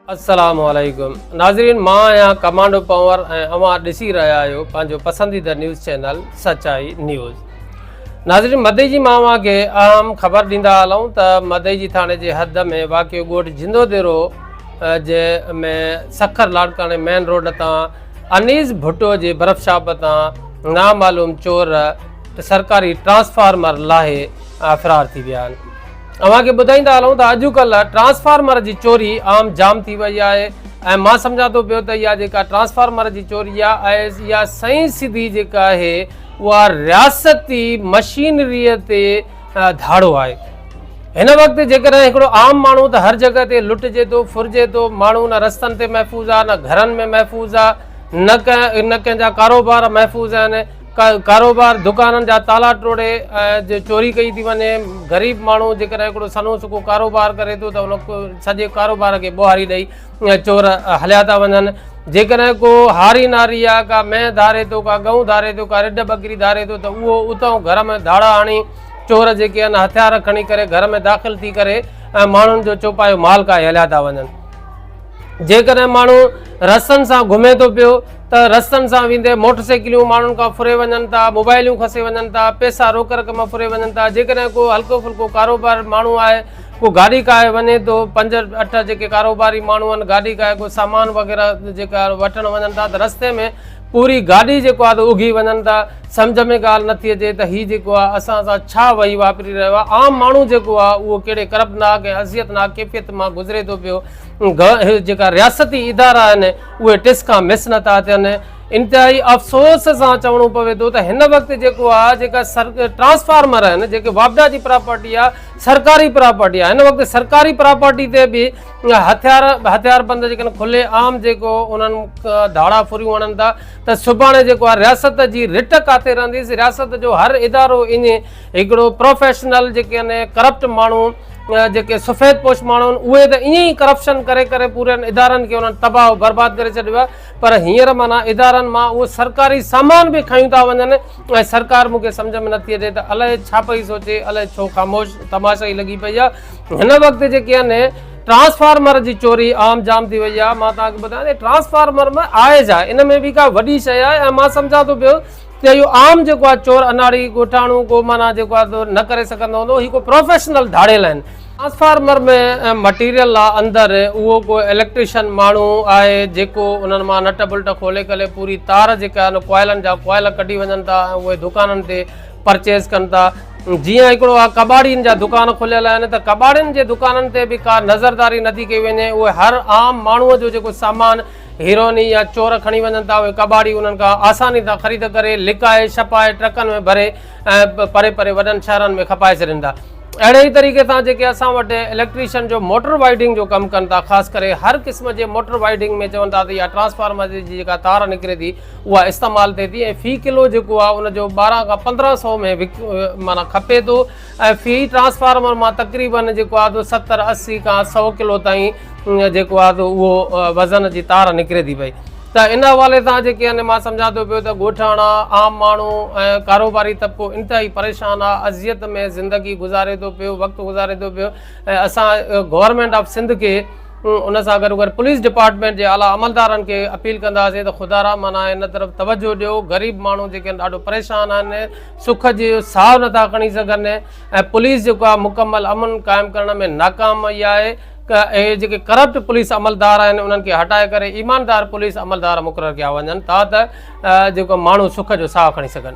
السلام عليڪم ناظرين مان آهيان ڪمانڊو پنور ۽ اوهان ڏسي رهيا آهيو پنهنجو پسنديده نيوز چينل سچائي نيوز ناظرين مدي جي مان اوهان کي اهم خبر ڏيندا هلون ته مدي جي ٿاڻي جي حد ۾ واقع ڳوٺ جندو ديرو جي ۾ سکر لاڙڪاڻي مين روڊ تان انيس ڀٽو جي برف شاپ تان نامعلوم چور سرڪاري ٽرانسفارمر لاهي فرار ٿي ويا آهن اوهان کي ٻڌائيندا هلون ته اڄڪلهه ٽرانسفارمر جي چوري عام جام ٿي وئي آهي ۽ مان سمجهان ٿو پيو ته اها جيڪا ٽرانسفارمر جي چوري آهي اها سئين سڌي جيڪا آهي اها رياستي مشينري تي ڌاڙو آهي هن وقت جيڪڏهن هڪڙو عام ماڻهو ته هر جڳهه تي لٽجي ٿو ڦرجي ٿو ماڻهو نه رستن تي محفوظ آهي نه گهرن ۾ محفوظ آهي نه ڪنهن نه ڪنهن جا ڪاروبار محفوظ آهن ڪاروبار دڪانن جا تالا ٽوڙي چوري ڪئي ٿي وڃي غريب ماڻهو جيڪڏهن هڪڙو سنو سڪو ڪاروبار ڪري ٿو ته ان سڄي ڪاروبار کي ٻوهاري ڏئي چور هليا ٿا وڃن جيڪڏهن ڪو هاري ناري آ ڪا مينهن ڌاري ٿو ڪا ڳئون ڌاري ٿو ڪا رڍ ٻڪري ڌاري ٿو ته اهو اتان گهر ۾ ڌاڙا هڻي چور جيڪي آهن هٿيار کڻي ڪري گهر ۾ داخل ٿي ڪري ۽ ماڻهن جو چوپايو مال ڪاهي هليا ٿا وڃن جيڪڏهن ماڻهو رسن سان گهمي ٿو پيو ته رستن سان ويندي موٽر سائيڪليون ماڻهن کان ڦري وڃن ٿا، موبائليون کسي وڃن ٿا، پئسا روڪ رقم ڦري وڃن ٿا، جيڪڏهن ڪو هلڪو ڦلڪو ڪاروبار ماڻهو آهي، ڪو گاڏي ڪاهي وڃي ٿو، پنج اٺ جيڪي ڪاروباري ماڻهو آهن گاڏي ڪاهي ڪو سامان وغيره جيڪا وٺڻ وڃن ٿا ته رستي ۾ پوري گاڏي جيڪو آهي ته اگهي وڃن ٿا، سمجهه ۾ ڳالهه نٿي اچي ته هي جيڪو آهي اسان سان ڇا وهي واپري رهيو آهي، عام ماڻهو جيڪو آهي اهو ڪهڙي ڪربناڪ ۽ اذيتناڪ ڪيفيت مان گذري ٿو پيو، جيڪا رياستي ادارا آهن. اهي ٽس کان مس نٿا ٿين. انتهائي افسوس سان چوڻو پوي ٿو ته هن وقت جيڪو آهي جيڪا ٽرانسفارمر آهن جيڪي واپڊا جي پراپرٽي آهي سرڪاري پراپرٽي آهي هن وقت سرڪاري پراپرٽي تي به هٿيار هٿيار بند جيڪڏهن کلي عام جيڪو انهن ڌاڙا ڦريون هڻن ٿا ته سڀاڻي جيڪو آهي رياست جي رٽ ڪاٿي رهنديس رياست جو هر ادارو ائين هڪڙو پروفيشنل جيڪي آهن ڪرپٽ ماڻهو جيڪي سفيد پوش ماڻهو آهن اهي ته ائين ئي ڪرپشن ڪري ڪري پورن ادارن کي انهن تباهه و برباد ڪري ڇڏيو آهي پر هينئر معنيٰ ادارن مان اهو سرڪاري سامان به کيون ٿا وڃن ۽ سرڪار مون کي سمجهه ۾ نٿي اچي ته الاهي ڇا پئي سوچي الاهي ڇو خاموش تماشا ئي لڳي پئي آهي هن وقت جيڪي آهن ٽرانسفارمر جي چوري عام جام ٿي وئي آهي مان توهان کي ٻڌايان ته ٽرانسفارمر ۾ آهي ڇا ان ۾ به ڪا وڏي شيء آهي ۽ مان سمجهان ٿو پيو ته اهو عام جيڪو آهي چور اناڙي ڳوٺاڻو ڪو معنيٰ جيڪو آهي نه ڪري سگهندو هوندو هي ڪو پروفيشنل ڌاڙيل آهن. ٽرانسفارمر ۾ مٽيريل آهي اندر اهو ڪو اليڪٽريشن ماڻهو آهي جيڪو انهن مان نٽ بلٽ کولي ڪري پوري تار جيڪا آهي ان ڪوائلن جا ڪوائل ڪڍي وڃن ٿا ۽ اهي دڪانن تي پرچيز ڪن ٿا جيئن هڪڙو آهي ڪٻاڙين جا دڪان کليل آهن ته ڪٻاڙين جي دڪانن تي به ڪا نظرداري نٿي ڪئي وڃي اهي هر عام ماڻهو جو جيڪو سامان هيروئن يا چور کڻي وڃن ٿا اهي ڪٻاڙي انهن کان آساني سان خريد ڪري لڪائي ڇپائي ٽرڪن ۾ ڀري ۽ پري پري وڏن شهرن ۾ کپائي ڇڏين ٿا اهڙي ئي طريقي سان جيڪي اسان وٽ اليڪٽريشن جو موٽر وائيڊنگ جو ڪم ڪن ٿا خاص ڪري هر قسم جي موٽر وائيڊنگ ۾ چون ٿا ته يا ٽرانسفارمر جي جيڪا تار نڪري ٿي اها استعمال ٿئي ٿي ۽ في ڪلو جيڪو آهي ان جو ٻارهن کان پندرهن سو ۾ معنيٰ کپي ٿو ۽ في ٽرانسفارمر مان تقريبن جيڪو آهي تو ستر اسي کان سؤ ڪلو تائين جيڪو آهي تو اهو وزن جي تار نڪري ٿي پئي ته ان حوالي سان جيڪي آهن مان سمجهان ٿو پيو ته ڳوٺاڻا عام ماڻهو ۽ ڪاروباري طبقو انتهائي پريشان آهي اذيت ۾ زندگي گذاري ٿو پيو وقت گذاري ٿو پيو ۽ اسان گورنمينٽ آف سنڌ کي ان سان گڏو گڏ پوليس ڊپارٽمينٽ جي اعليٰ عملدارن کي اپيل ڪنداسين ته خدارا معنيٰ ان طرف توجهه ڏيو غريب ماڻهو جيڪي آهن ڏاڍو پريشان آهن سک جي ساهه نٿا کڻي سگهن ۽ پوليس جيڪو آهي مڪمل امن قائم ڪرڻ ۾ ناڪام وئي آهي اهي جيڪي ڪرپٽ پوليس عملدار آهن انهن کي هٽائي ڪري ايماندار پوليس عملدار مقرر ڪيا وڃن ٿا ته جيڪو ماڻهو سک جو ساهه کڻي سگهن